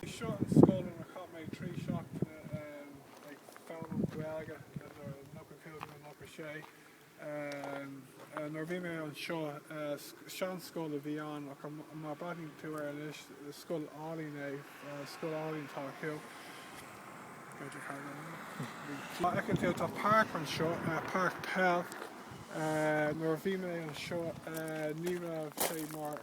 B'é seo an scoil inar chaith mé trí seachtaine ag foghlaim Gaeilge, idir nócha cúig and nócha sé. Nuair a bhí mé anseo, seanscoil a bhí ann, ach má bhreathnaíonn tú air anois, is scoil álainn é, scoil álainn atá acu. Má fheiceann tú, tá páirc anseo, páirc peil. Nuair a bhí mé anseo, ní raibh sé mar.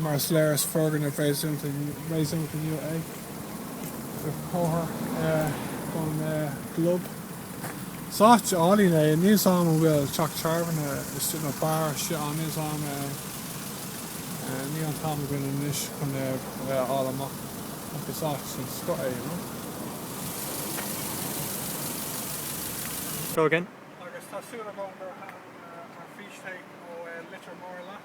mar is léir is foirgneamh réasúnta nua é, i gcomhair an gclub. Is áit álainn é, níl a fhios agam an bhfuil teach tábhairne istigh nó beár istigh ann, níl a fhios agam é, níl an t-am againn anois chun é a fháil amach, ach is áit den scoth é, you know. Go hálainn. Agus tá súil agam gur thaitin an fístéip ó Leitir Móir leat.